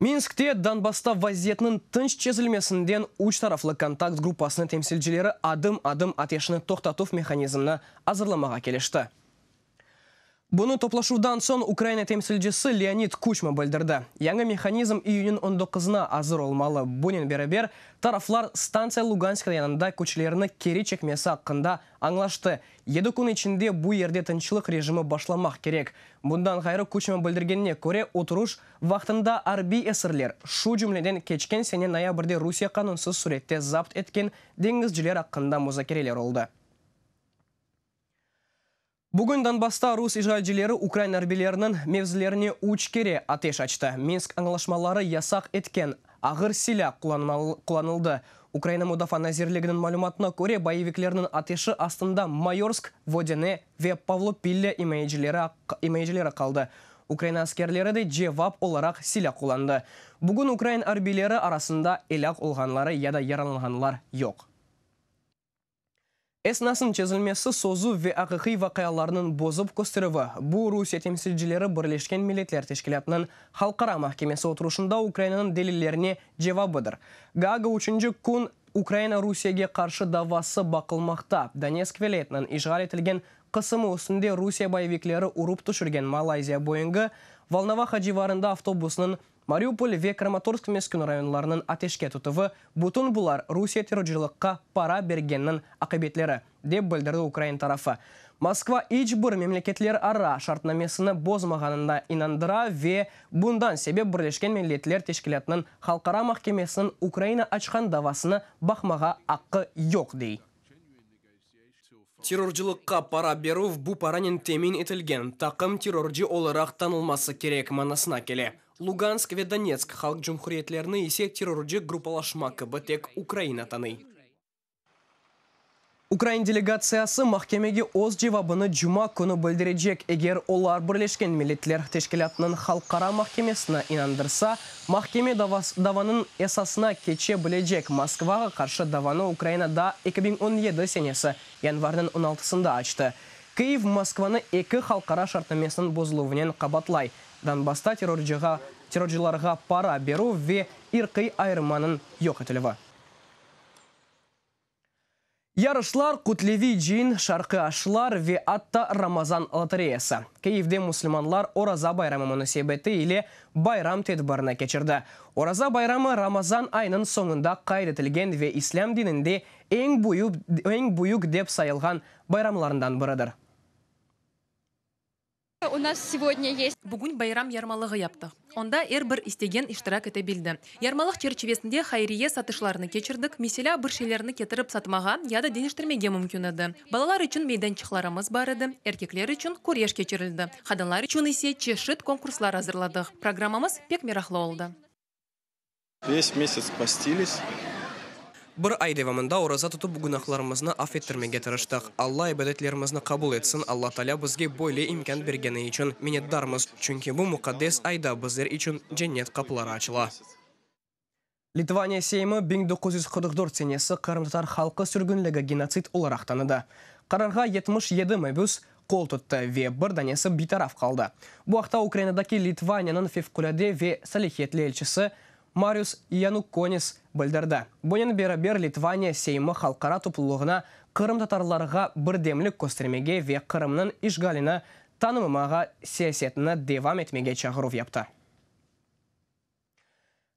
Minskte Donbassta vaziyetniñ tınç çezilmesinden üç taraflı kontakt gruppasınıñ temsilcileri adım-adım ateşni toqtatuv mehanizmini azırlamağa kelişti. Bunı toplaşuvdan soñ Ukraina temsilcisi Leonid Kuçma bildirdi. Yañı mehanizm iyünniñ on doquzına azır olmalı, bunen beraber, taraflar stantsiya Lugansk rayonında küçlerini keri çekmesi aqqında añlaştı, yedi kün içinde bu yerde tınçlıq rejimi başlamaq kerek. Bundan ğayrı Kuçma bildirgenine köre, oturuş, Vaqtında arbiy esirler, şu cümleden keçken sene noyabrde Rusiye qanunsız sürette zapt etken deñizciler aqqında muzakereler oldı. Bugün Donbassta rus işğalcileri ukrain arbiyleriniñ mevzilerine üç kere ateş açtı. Minsk añlaşmaları yasaq etken ağır silâ qullanıldı. Ukraina Mudafaa nazirliginiñ malümatına köre, boyeviklerniñ ateşi astında Mayorsk, Vodene, Ve Pavlo Pille imayecileri imayecileri qaldı. Ukraina askerleri de cevap olaraq silâ qullandı. Bugün ukrain arbiyleri arasında elâk olğanları ya da yaralanğanlar yoq. Esnasnıñ çezilmesi, sözü ve aqiqiy vaqialarnıñ bozıp kösterüvi, bu Rusiye temsilcileri Birleşken Milletler Teşkilâtınıñ Halqara mahkemesi oturışında Ukrainanıñ delillerine cevabıdır. Gaaga üçünci kün Ukraina Rusiyege qarşı davası baqılmaqta. Donetsk vilâyetiniñ işğal etilgen qısımı üstünde Rusiye boyevikleri urıp tüşürgen Malayziya Boeingı Volnovaha civarında avtobusnıñ Mariupol ve Kramatorsk meskün rayonlarınıñ ateşke tutuvı, bütün bular Rusiye terrorcılıqqa para bergenniñ aqibetleri. dep bildirdi ukrain tarafı. Moskva iç bir memleketlerara şartnamesini bozmağanına inandıra ve bundan sebep Birleşken Milletler Teşkilâtınıñ Halqara mahkemesiniñ Ukraina açqan davasını baqmağa aqqı yoq, dey. Terrorcılıqqa para berüv bu paranen temin etilgen taqım terrorcı olaraq tanılması kerek manasına kele. Lugansk ve Donetsk halq cumhuriyetlerini ise terrorcı gruppalaşma kibi tek Ukraina tanıy. Ukrain delegatsiyası mahkemege öz cevabını cuma künü bildirecek, eger olar Birleşken Milletler Teşkilâtınıñ Halqara mahkemesine inandırsa, mahkeme davanıñ esasına keçe bilecek. Moskvağa qarşı davanı Ukraina da eki biñ on yedi senesi yanvarnıñ on altısında açtı. Kyiv Moskvanı eki halqara şartnamesiniñ bozuluvınen qabatlay, Donbassta terrorcılarğa para berüv ve irqiy ayırmanıñ yoq etilüvi. Yarışlar, Qutleviy Cin, Şarqı Aşlar ve atta Ramazan lotoreyası, Kiyevde müslümanlar Oraza bayramı munasebeti ile bayram tedbirini keçirdi. Oraza bayramı Ramazan ayınıñ soñunda qayd etilgen ve islâm dininde eñ büyük dep sayılğan bayramlarından biridir. Bugün bayram yarmalığı yaptıq, onda er bir istegen iştirak ete bildi. Yarmalıq çerçivesinde hayriye satışlarını keçirdik, meselâ, bir şeylerni ketirip satmağa ya da deñiştirmege mümkün edi. Balalar içün meydançıqlarımız bar edi, erkekler içün küreş keçirildi, qadınlar içün ise çeşit konkurslar azırladıq. Programmamız pek meraqlı oldı. Ves mesets postilis. Bir ay devamında oraza tutıp günahlarımıznı af ettirmege tırıştıq. Alla ibadetlerimizni qabul etsin, Alla Taalâ bizge böyle imkân bergeni içün minnetdarmız, çünki bu muqaddes ayda bizler içün cennet qapıları açıla. Litvaniya Seymi biñ doquz yüz qırq dört senesi qırımtatar halqı sürgünligi genotsid olaraq tanıdı. Qararğa yetmiş yedi mebüs, qol tuttı ve bir danesi bitaraf qaldı. Bu aqta Ukrainadaki Litvaniyanıñ Fevqulâde ve Salihiyetli elçisi Marius Yanukkonis bildirdi. Bunen beraber Litvaniya Seymi halqara toplulığına qırımtatarlarğa birdemlik köstermege ve Qırımnıñ işğalini tanımamağa siyasetini devam etmege çağıruv yaptı.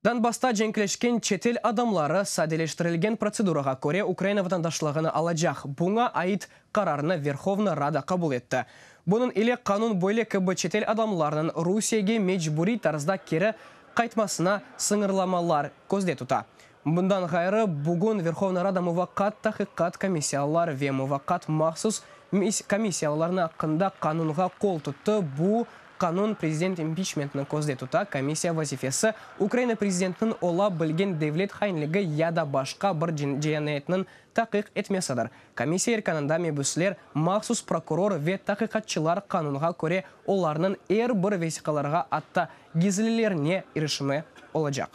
Donbassta cenkleşken çetel adamları sadeleştirilgen protsedurağa köre Ukraina vatandaşlığını alacaq. Buña ait qararnı Verhovna Rada qabul etti. Bunıñ ile qanun böyle kibi çetel adamlarnıñ Rusiyege mecburiy tarzda keri qaytmasına sıñırlamalar közde tuta. Bundan ğayrı, bugün Verhovna Rada Muvaqqat Taqiqat komissiyalılar ve Muvaqqat mahsus komissiyalılarnı aqqında qanunğa qol tuttı, bu qanun prezident impiçmentni közde tuta, komissiya vazifesi Ukraina prezidentiniñ ola bilgen devlet hainligi ya da başqa bir cinayetniñ taqiq etmesidir. Komissiya erkanında mebüsler, mahsus prokuror ve taqiqatçılar qanunğa köre olarnıñ er bir vesiqalarğa atta gizlilerine irişimi olacaq.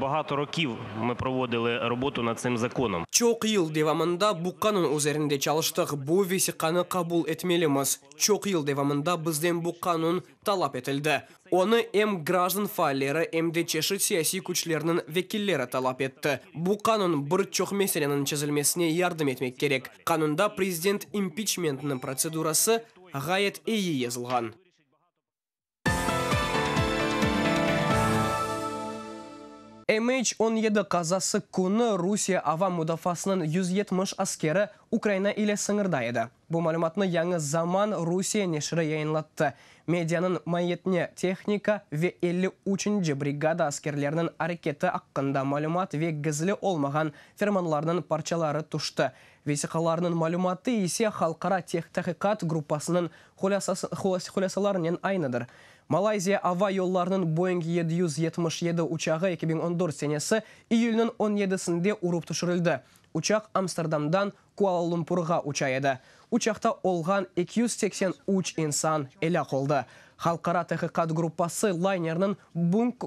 Bahato rokiv mı provodili robotu nad tsim zakonom. Çoq yıl devamında bu qanun üzerinde çalıştıq, bu vesiqanı qabul etmelimiz. Çoq yıl devamında bizden bu qanun talap etildi. Onı em grajdan faalleri, em de çeşit siyasiy küçlerniñ vekilleri talap etti. Bu qanun bir çoq meseleniñ çezilmesine yardım etmek kerek. Qanunda prezident impiçmentniñ protsedurası ğayet eyi yazılğan. MH-17 qazası künü Rusiye ava mudafasınıñ yüz yetmiş askeri Ukraina ile sıñırda edi. Bu malümatnı Yañı Zaman Rusiye neşiri yayınlattı. Medianıñ maiyetine tehnika ve elli üçünci brigada askerleriniñ areketi aqqında malümat ve gizli olmağan fermanlarnıñ parçaları tüşti, Vesiqalarnıñ malümatı ise halqara taqiqat gruppasınıñ hulâsalarınen aynıdır. Malayziya ava yollarınıñ Boeing yedi yüz yetmiş yedi uçağı eki biñ on dört senesi iyülniñ on yedisinde urıp tüşürildi. Uçaq Amsterdamdan Kuala-Lumpurğa uça edi. Uçaqta olğan eki yüz seksen üç insan elâk oldı. Halqara taqiqat gruppası laynerniñ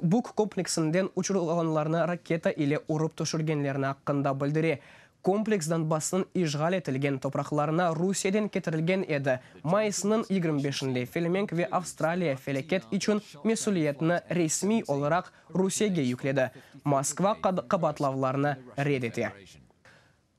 Buk kompleksinden uçurılğanlarnı raketa ile urıp tüşürgenlerni aqqında bildire, Kompleks Donbassnıñ işğal etilgen topraqlarına Rusiyeden ketirilgen edi. Mayısnıñ yigirmi beşinde Felemenk ve Avstraliya felâket içün mesüliyetni resmiy olaraq Rusiyege yükledi. Moskva qabaatlavlarnı red ete.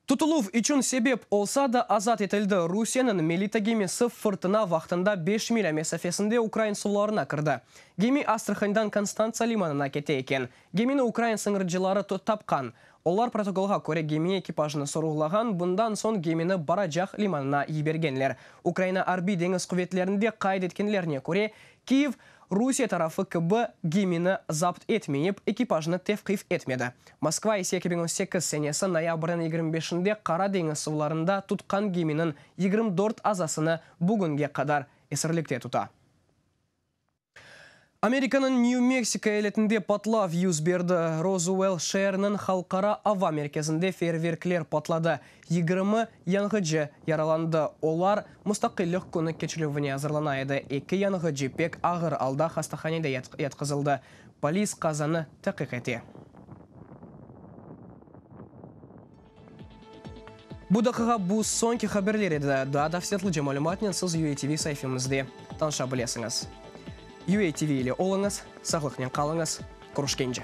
Tutuluv içün sebep olsa da, azat etildi. Rusiyeniñ Melita gemisi fırtına vaqtında beş milâ mesafesinde ukrain suvlarına kirdi. Gemi Astrahandan Konstantsa limanına kete eken. Gemini ukrain sıñırcıları tapqan. Olar protokolğa köre gemi ekipajını soruğlağan, bundan soñ gemini Baracaq limanına yibergenler. Ukraina arbiy deñiz quvetlerinde qayd etkenlerine köre, Kyiv, Rusiye tarafı kibi, gemini zapt etmeyip, ekipajını tevqif etmedi. Moskva ise eki biñ on sekiz senesi noyabrniñ yigirmi beşinde Qara deñiz suvlarında tutqan geminiñ yigirmi dört azasını bugünge qadar esirlikte tuta. Amerikanıñ Nyu-Meksiko eyaletinde patlav yüz berdi. Rozuell şeeriniñ halqara ava merkezinde feerverkler patladı, yigirmi yanğıcı yaralandı, olar Mustaqillik künü keçilüvine azırlana edi, eki yanğıcı pek ağır alda hastahanede yatqızıldı. Polis qazanı taqiq ete. Bu daqiqa bu soñki haberler edi. Daa tafsilâtlıca malümatnen siz UATV saifemizde tanışa bilesiñiz. UATV ile oluñız, sağlıqnen qalıñız, körüşkence!